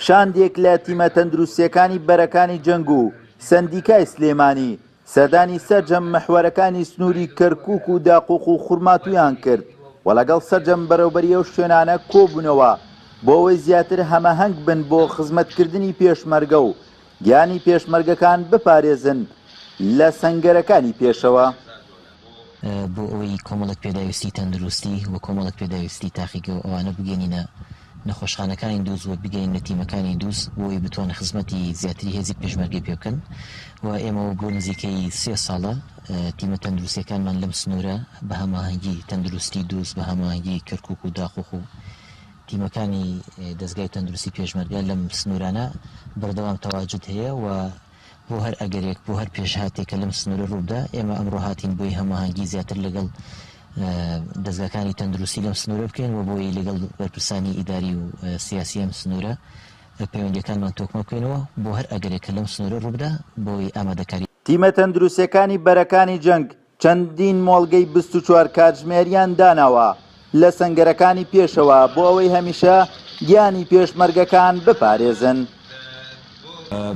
شاندێک لە تیمە تەندروستییەکانی بەرەکانی جەنگ و سەندیکای سلێمانی سەردانی سەرجەم محوەرەکانی سنووری کەرکووک و داقوق و خورماتوویان کرد و لەگەڵ سەرجەم بەرەوبەری ئەو شوێنانە کۆبوونەوە بۆ ئەوەی زیاتر هەمەهەنگ بن بۆ خزمەتکردنی پێشمەرگە و گیانی پێشمەرگەکان بپارێزن لە سەنگەرەکانی پێشەوە. بۆ ئەوەی کۆمەڵێک پێداویستی تەندروستی و کۆمەڵێک پێداویستی تاقیگە و ئەوانە بگەینینە نەخۆشخانەکانی دووز و بگەیننە تیمەکانی دووز بۆ ئەوەی بتوانن خزمەتی زیاتری هێزی پێشمەرگەی پێ بکەن و ئێمە بۆ نزیکەی سێ ساڵە تیمە تەندروستیەکانمان لەم سنوورە بە هەماهەنگی تەندروستی دووز بە هەماهەنگی کەرکوک و داقوق و تیمەکانی دەزگای تەندروستی پێشمەرگە لەم سنوورانە بەردەوام تەواجد هەیە و بۆ هەر ئەگەرێک، بۆ هەر پێشهاتێک کە لەم سنوورە رووبدا، ئێمە ئەمڕۆ هاتین بۆی هەماهەنگی زیاتر لەگەڵ دەزگاکانی تەندروستی لەم سنوورە بکەین و بۆی لەگەڵ بەرپرسانی ئیداری و سیاسی ئەم سنوورە پەیوەندیەکانمان تۆکمە بکەینەوە بۆ هەر ئەگەرێک کە لەم سنوورە رووبدا بۆی ئامادەکاری تیمە تەندروسیەکانی بەرەکانی جەنگ چەندین مۆڵگەی بیست و چوار کاتژمێریان داناوە لە سەنگەرەکانی پێشەوە بۆ ئەوەی هەمیشە گیانی پێشمەرگەکان بپارێزن.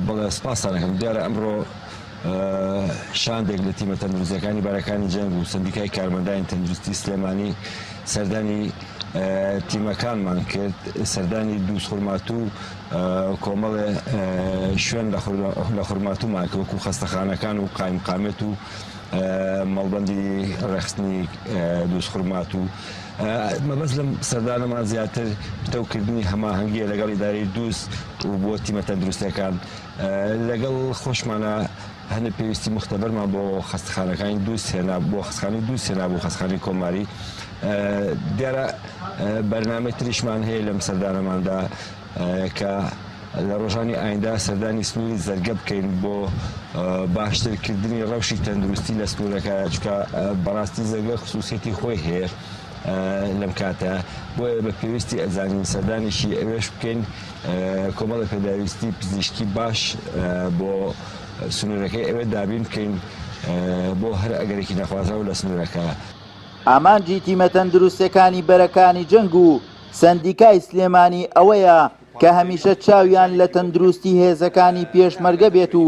بەڵێ سپاستان ئەکەم، دیارە ئەمڕۆ شاندێک لە تیمە تەندروستییەکانی بەرەکانی جەنگ و سەندیکای کارمەندانی تەندروستی سلێمانی سەردانی تیمەکانمان کرد، سەردانی دوو خورماتوو و کۆمەڵێ شوێن لە خورماتوومان کرد وەکوو خەستەخانەکان و قایمقامیەت و مەڵبەندی ڕێخستنی دووسخورمات و مەبەست لەم سەردانەمان زیاتر پتەوکردنی هەماهەنگیە لەگەڵ ئیدارەی دووست و بۆ تیمە تەندروستەکان لەگەڵ خۆشمانە هەنێ پێویستی مختبەرمان بۆ خەستخانەکانی دوو سێنا بۆ خستخانی دوو سێنا بۆ خستخانی کۆماری دیارە بەرنمەی تریشمان هەیە لەم سەردانەماندا کە لە ڕۆژانی ئایندە سەردانی سنووری زەرگە بکەین بۆ باشترکردنی ڕەوشی تەندروستی لە سنوورەکە چکە بەڕاستی زەرگە خصوصیەتی خۆی هەیە لەم کاتە بۆیە بە پێویستی ئەزانین سەردانێکی ئەوێش بکەین کۆمەڵە پێداویستی پزیشکی باش بۆ سنوورەکەی ئەوێ دابین بکەین بۆ هەر ئەگەرێکی نەخوازەوە لە سنوورەکە. ئامانجی تیمە تەندروستەکانی بەرەکانی جەنگ و سەندیکای سلێمانی ئەوەیە کە هەمیشە چاویان لە تەندروستی هێزەکانی پێشمەرگە بێت و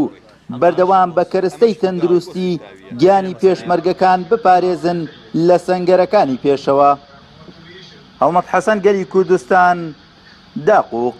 بەردەوام بە کەرستەی تەندروستی گیانی پێشمەرگەکان بپارێزن لە سەنگەرەکانی پێشەوە. هەڵمەت حەسەن گەلی کوردستان داقووق.